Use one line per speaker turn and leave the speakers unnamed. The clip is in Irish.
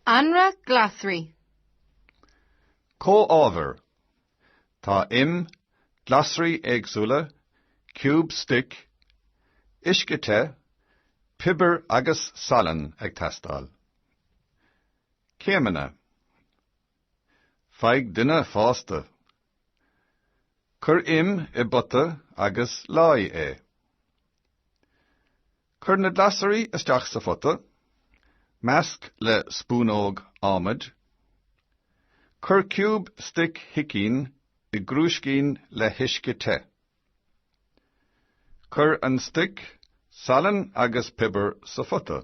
Anraith glasraí.
Comhábhair. Tá im, glasraí éagsúla, ciúb stoic, uisce te, piobar agus salann ag teastáil. Céimeanna. Faigh duine fásta. Cuir im i bpota agus leáigh é. Cuir na glasraí isteach sa phota. Measc le spúnóg adhmaid. Cuir ciúb stoic shicín i gcrúiscín le huisce te. Cuir an stoc, salann agus piobar sa phota.